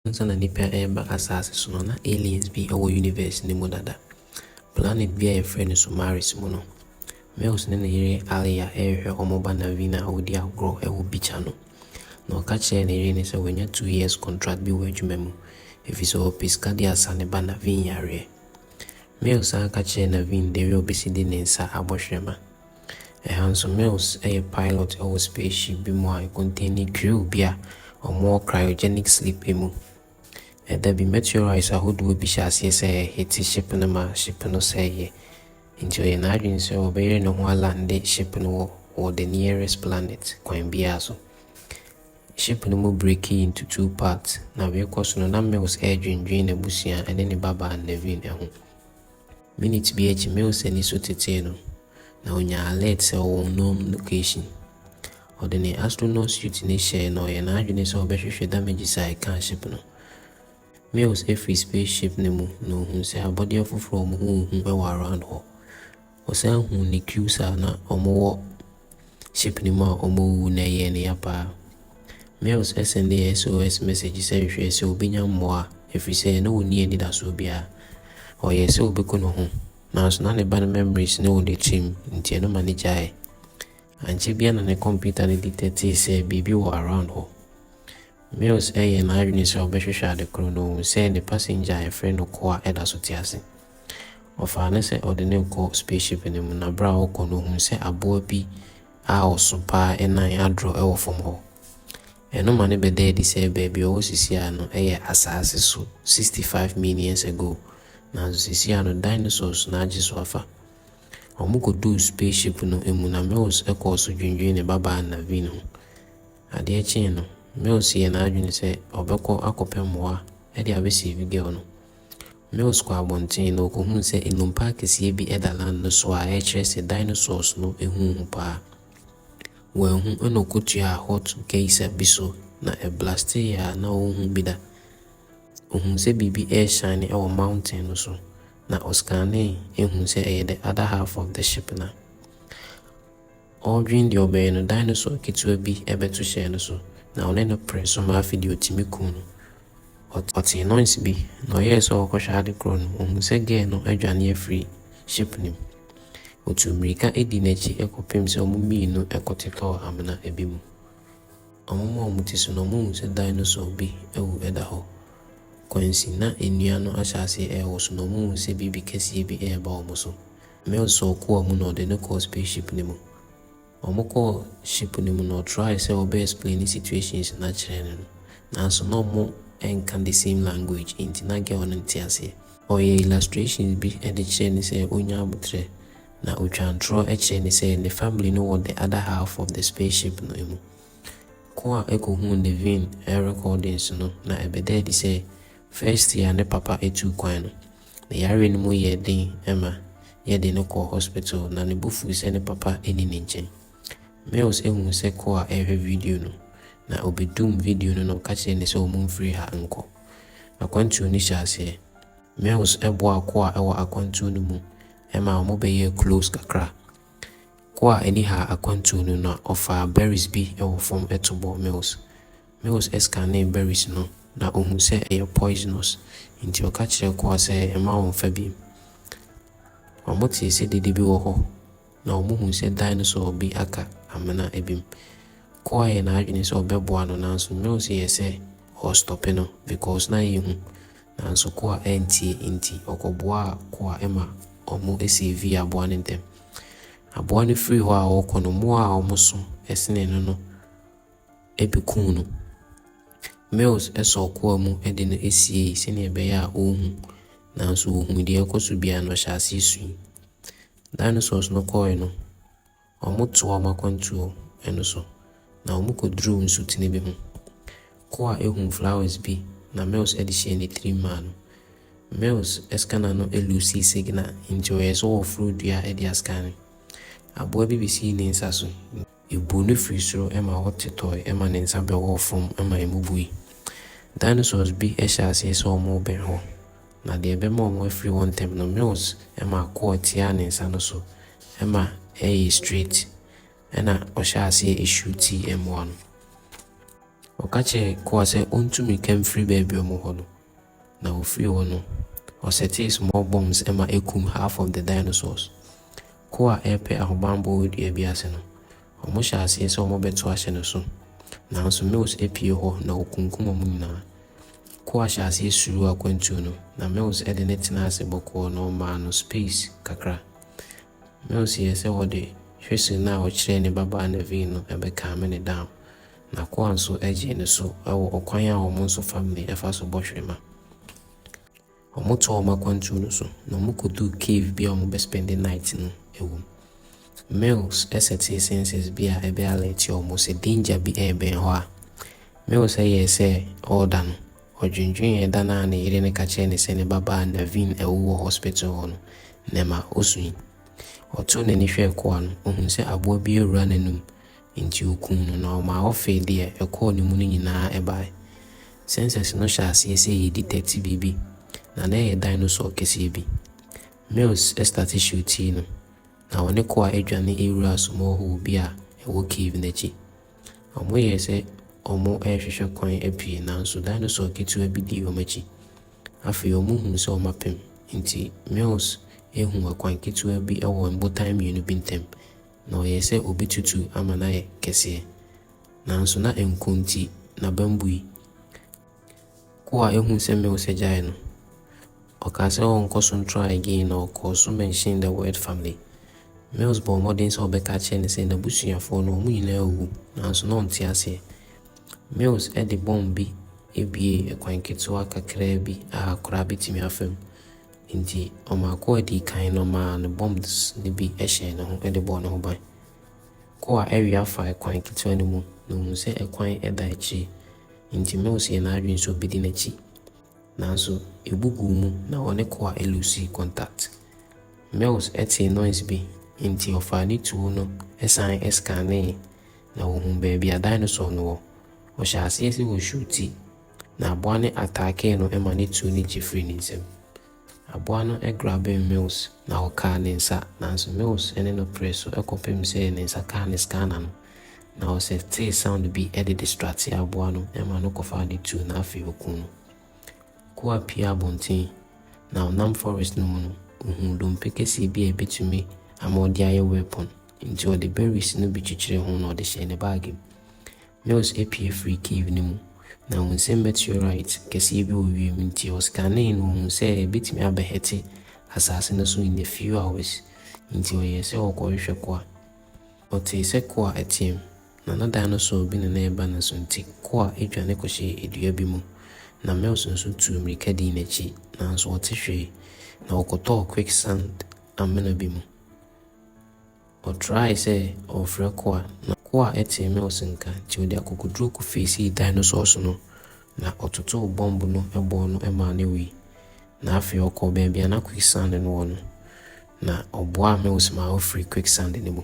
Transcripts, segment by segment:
Ansa na nnipa reba asaase so no, na aliens bi wɔ universe no mu dada. Planet bi a wɔfrɛ no Somaris mu no, Mills ne ne yere Alia rehwɛ wɔn ba Naveen a ɔredi agorɔ wɔ beach ano. Na ɔka kyerɛɛ ne yere no sɛ wanya two years contract bi wɔ adwuma mu, efisɛ ɔpɛ sika de asa ne ba Naveen yareɛ. Mills san ka kyerɛɛ Naveen dɛ wia ɔbɛsi de ne nsa abɔ hwerɛma. Hanso Mills yɛ pilot wɔ spaceship bi mu a ɛkɔntɛɛni grill bi a wɔwɔ cryogenic sleep mu. Da bi, meteorites ahodoɔ bi hyɛɛ aseɛ sɛ ɛrehete ship no ma ship no sɛeeɛ, enti ɔyɛɛ n'adwene sɛ ɔbɛyere ne ho alande ship no wɔ wɔ the nearest planet kwan biara so. Ship no mu breakii into two parts, na wei rekɔ so no, na Mills redwendwene n'abusua ne ne babaa Nevin ho. Minute bi akyi, Mills ani so tetee no, na onyaa alert sɛ ɔwɔ unknown location. Ɔde ne astronaut suit no hyɛe na ɔyɛɛ n'adwene sɛ ɔbɛhwehwɛ damages a ɛkaa ship no. Mills firi spaceship no mu na ohuu sɛ abɔdeɛ foforɔ a wɔn ho nhu wɔ around hɔ. Ɔsan huu ne crews a na wɔwɔ Ship no mu a wɔawuwu na ɛyɛɛ no ya paa. Mills sɛndee SOS mɛsɛgye sɛ hwɛ sɛ ɔbɛnya mmoa ɛfiri sɛ na ɔnni anidasoɔ biara. Ɔyɛɛ sɛ ɔbɛku ne ho, nanso na ne ba no memories no wɔ n'akyirim nti ɛno ma no gyaeɛ. Ankyɛ biara na ne kɔmputa no dictatee sɛ biribi wɔ around hɔ. Mills yɛɛ n'adwene sɛ ɔbɛhwehwɛ ade koro na ohu sɛ ne passenger a yɛfrɛ no Koa da so te ase. Ɔfaa no sɛ ɔde no rekɔ spaceship no mu na bere a ɔrekɔ no ohuu sɛ aboa bi a ɔso paa nan adrɔ wɔ fam hɔ. Ɛno ma no bɛdaa adi sɛ baabi a ɔwɔ seesei no yɛ asaase so 65 min years ago nanso seesei no dinosaurs na agye so afa. Wɔkɔduu spaceship no mu na Mills kɔɔ so dwinnwen ne babaa Naveen ho. Adeɛ kyee no, Mills yɛɛ n'adwene sɛ ɔbɛkɔ akɔpɛ mmoa de abɛseevi girl no. Mills kɔɔ abɔnten na ɔkɔhunuu sɛ nnompa akɛseɛ bi da land no so a ɛkyerɛ sɛ dinosaurs no huu ho paa. Wanhu na ɔkɔtuaa hot geyser bi so na ɛblasteeɛ a na ɔnhu bi da. Ɔhuu sɛ biribi reshine wɔ mountain no so na ɔscanee huu sɛ ɛyɛ the other half of the ship no. Ɔredwen deɛ ɔbɛyɛ no, dinosaur ketewa bi bɛto hyɛɛ no so, na ɔne no peree so ma afei deɛ ɔtumi kum no. Ɔtee noise bi, na ɔyɛɛ sɛ ɔrekɔhwɛ ade korɔ no, ɔhuu sɛ girl no adwane afiri ship no mu. Ɔtuu mmirika dii n'akyi kɔpem sɛ wɔn mmienu kɔtotɔɔ amena bi mu. Wɔmaa wɔn ti so na wɔhuu sɛ dinosaur bi awu da hɔ. Kwansi, na nnua no ahyɛ aseɛ rewoso, na wɔhuu sɛ biribi kɛseɛ bi reba wɔn so. Mills wɔ koa mu na ɔde no kɔɔ space ship no mu. Wɔn kɔɔ ship no mu na ɔtrae sɛ ɔbɛ explain situations no akyerɛ no no, nanso na wɔn nka the same language nti na girl no nte aseɛ. Ɔyɛɛ illustrations bi de kyerɛɛ no sɛ ɔnya aboterɛ, na ɔtwaa ntorɔ kyerɛɛ no sɛ ne family no wɔ the other half of the space ship no mu. Koa kɔhuu Nevin recordings no na ɛbɛdaa adi sɛ first year ne papa tuu kwan no. Ne yareɛ no mu yɛɛ den ma yɛde no kɔɔ hospital na ne bo fui sɛ ne papa nni ne nkyɛn. Mills huu sɛ Koa rehwɛ video no, na ɔbɛdumm video no na ɔka kyerɛɛ no sɛ wɔmfiri ha nkɔ. Akwantuo no hyɛɛ aseɛ. Mills boaa Koa wɔ akwantuo no mu ma wɔbɛyɛɛ close kakra. Koa ani haa akwantuo no na ɔfaa berries bi wɔ fam to bɔɔ Mills. Mills scanee berries no na ɔhuu sɛ ɛyɛ poisonous nti ɔka kyerɛɛ koa sɛ mma ɔmmfa bi. Wɔtee sɛ dede bi wɔ hɔ na wɔhuu sɛ dinosaur bi aka amena bi mu. Koa yɛɛ n'adwene sɛ ɔbɛboa no nanso Mills yɛɛ sɛ ɔrestɔpe no because na ɛyɛ hu nanso koa antie nti ɔkɔboaa koa ma wɔsavee aboa no ntɛm. Aboa no firii hɔ a ɔrekɔ no mmoa a wɔso senee no no bɛkum no. Mills sɔɔ koa mu de no siei sɛdeɛ ɛbɛyɛ a ɔrenhu, nanso ɔhunuu deɛ ɛrekɔ so biara no, ɔhyɛɛ aseɛ suiɛ. Dinosaurs no kɔeɛ no, wɔtoo wɔn akwantuo no so, na wɔkɔduruu nsutene bi ho. Koa hunuu flowers bi na Mills de hyɛɛ ne tirim maa no. Mills scanner no loosii signal, nti ɔyɛɛ sɛ ɔreforo dua de ascan. Aboa bi bɛsii ne nsa so. Ebuu no firi soro ma wɔtetɔe ma ne nsa bɛwɔɔ fam ma emu bui. Dinosaurs bi hyɛɛ aseɛ sɛ wɔrebɛn hɔ, na deɛ ɛbɛma wɔafiri hɔ ntɛm no, Mills ma kɔɔ tiaa ne nsa no so ma ɛyee straight, ɛnna ɔhyɛɛ aseɛ shutii mmoa no. Ɔka kyerɛɛ Kɔɔ sɛ ɔntu mmirika mfiri baabi a wɔwɔ no. na ɔfiri hɔ no, ɔsetee small bombs ma ɛkum half of the dinosaurs. Ko a ɛrepɛ ahobammɔ wɔ dua bi ase no, wɔhyɛɛ aseɛ sɛ wɔbɛto ahyɛ no so, nanso Mills pue hɔ na ɔkunkum wɔn nyinaa. Ko a hyɛɛ aseɛ suruu akwantuo no, na Mills de no tenaa ase bɔkɔɔ na ɔmaa no space kakra. Mills yɛɛ sɛ ɔde whistle no a ɔkyerɛɛ ne babaa Nevin no bɛcalme no down, N'akoa nso gyee no so wɔ ɔkwan a wɔn nso fa mmee fa so bɔ hwirema. Wɔtɔɔ wɔn akwantuo no so, na wɔkɔduu cave bi a wɔbɛ spend night no wom. Mills sɛtee sensors bi a ɛbɛ alert wɔn sɛ danger bi rebɛn hɔ a. Mills yɛɛ sɛ ɔreda no, ɔdwendwenee da no a ne yere no ka kyerɛɛ no sɛ ne babaa Naveen awu wɔ hospital hɔ no, na ɛma ɔsui. Ɔtoo n'ani hwɛɛ koa no, ɔhuu sɛ aboa bi awura n'anum, Enti wɔkumm no, na wɔmaa wɔfee deɛ ɛkɔɔ ne mu no nyinaa baeɛ. Sɛnsɛs no hyɛɛ aseɛ sɛ ɛredi dɛte biribi, na na ɛyɛ dinosaur kɛseɛ bi. Mills starte hyew tii no, na wɔne Koa dwane wuraa small hole bi a ɛwɔ cave no akyi. Wɔyɛɛ sɛ wɔrehwehwɛ kwan apue, nanso dinosaur ketewa bi dii wɔn akyi. Afei wɔhuu sɛ wɔapem, enti Mills huu ɛkwan ketewa bi wɔ mbotan mmienu bi ntam, Na ɔyɛe sɛ obetutu ama no ayɛ kɛseɛ, nanso na nko nti n'abam bui. Ko a ɛhuu sɛ Milcah gyaee no, ɔkaa sɛ ɔrenkɔ so ntra again na ɔkɔɔ so mentioned the word family. Mills bɔɔ mmɔden sɛ ɔbɛka akyerɛ no sɛ n'abusuafoɔ no wɔn nyinaa awuwu, nanso na ɔnte aseɛ. Mills de bɔmb bi buee kwan ketewa kakraa bi a koraa bɛtumi afa mu. Enti ɔmaa ko a ɛdii kan no maa no bombs no bi hyɛɛ ne ho de bɔɔ ne ho ban. Ko a ɛwe afa ɛkwan ketewa no mu na ɔhuu sɛ ɛkwan da akyire, enti Mills yɛɛ n'adwene sɛ ɔbɛdi n'akyi. Nanso ɛbu guu mu na ɔne ko a ɛluusii contact. Mills tee noise bi, enti ɔfaa ne tuo no san scanee na ɔhuu baabi a dinosaur no wɔ. Ɔhyɛɛ aseɛ sɛ ɔrehyuuti Na aboa no ataakee no ma no tuu ne ti firii ne nsam. Aboa no grabem Mills na ɔkaa ne nsa, nanso Mills ne no peree so kɔpem sɛ ne nsa kaa ne scanner no, na ɔsɛ tee sound bi de distractee aboa no ma no kɔfaa no tuu na afei ɔkuu no. Koa pue abɔnten, na ɔnam forest no mu no, ɔhuu dompe kɛseɛ bi a ɛbɛtumi ama ɔde ayɛ weapon, nti ɔde berries no bi kyekyeree ho na ɔde hyɛɛ ne bag mu. Mills apue firii cave no mu, na ɔhuu sɛ meteorite kɛseɛ bi wɔ wiem, enti ɔskanee na ɔhuu sɛ ɛbɛtumi abɛhɛte asase no so in a few hours, enti ɔyɛɛ sɛ ɔrekɔhwehwɛ Koa. Ɔtee sɛ Koa reteam, na na dinosaur bi na na ɛreba ne so, nti Koa dwane kɔhyɛɛ dua bi mu, na Mills nso tuu mmirika dii n'akyi, nanso ɔte hwee, na ɔkɔtɔɔ quicksand amena bi mu. Ɔtrae sɛ ɔrefrɛ Koa, na Koa tee Mills nka, nti ɔde akokoduru kɔfeesii dinosaurs no, na ɔtotow bɔmb no bɔɔ no maa no wui. Na afei ɔkɔɔ baabi a na quicksand no wɔ no, na ɔboaa Mills maa ofirii quicksand no mu.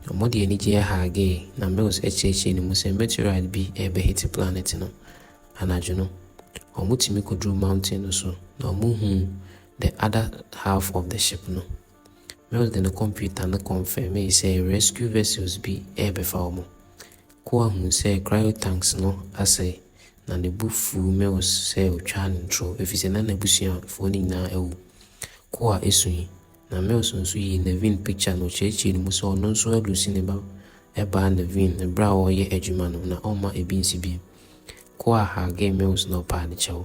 Wɔde anigye hagee, na Mills kyerɛkyerɛɛ ne mu sɛ meteorite bi rebɛhete planet no. Anadwo no, wɔtumi kɔduruu mountain no so, na wɔhuu the other half of the ship no. Mills de ne kɔmputa no kɔnfɛmee sɛ rescue vessels bi rebɛfa wɔn. Koa huu sɛ cryotanks no asɛe, na ne bo fuu Mills sɛ otwaa no ntoro efisɛ na n'abusuafoɔ no nyinaa awu. Koa sui, na Mills nso yii Nevin pikya na ɔkyerɛkyerɛɛ no mu sɛ ɔno nso adusi ne ba baa Nevin bere a ɔreyɛ adwuma no na ɔmma ebi nsi bio. Koa hagee Mills na ɔpaa ne kyɛw.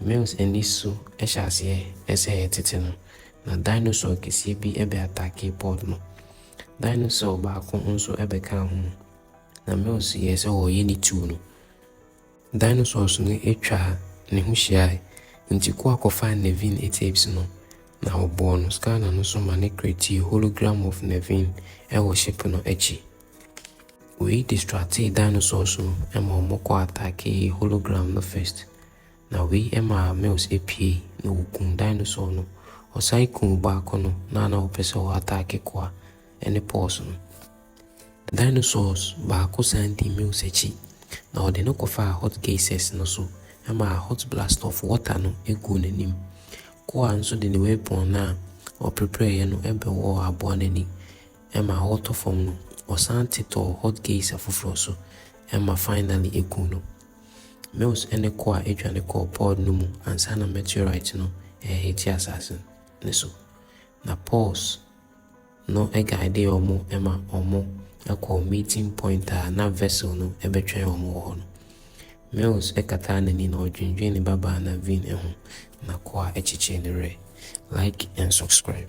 Mills ani so hyɛ aseɛ sɛ ɛretete no, na dinosaur kɛseɛ bi bɛataakee pod no. Dinosaur baako nso bɛkaa ho, na Mills yɛɛ sɛ ɔreyɛ ne tuo no. Dinosaurs no twaa ne ho hyiae, enti Koa kɔfaa Nevin tapes no, na ɔbɔɔ no scanner no so ma no createe hologram of Nevin wɔ ship no akyi. Wei distractee dinosaurs no ma ɔmo kɔ attackee hologram no first na wei maa males pue na wɔkuu dinosaur no. Ɔsan kuu baako no na a na ɔpɛ sɛ ɔ attack koa ne paws no. Dinosaurs baako san dii males akyi na ɔde no kɔfaa hot geysers no so maa hot blast of water no guu n'anim. Koa nso de ne weapon no a ɔperepereeɛ no bɛwɔɔ aboa no ani. ɛma ɔtɔ fam no ɔsan te tɔɔ hot geisha foforɔ so ɛma finally ɛku no. Mills ne Koa dwane kɔɔ pod no mu ansa na meteorite no rehete asase no so, na Pause no guidee wɔn ma wɔkɔɔ meeting point a na vessel no bɛtwɛn wɔn wɔ hɔ no. Mills kataa n'ani na ɔdwendwene ne babaa Naveen ho, na Koa kyekyee ne werɛ. Like and subscribe.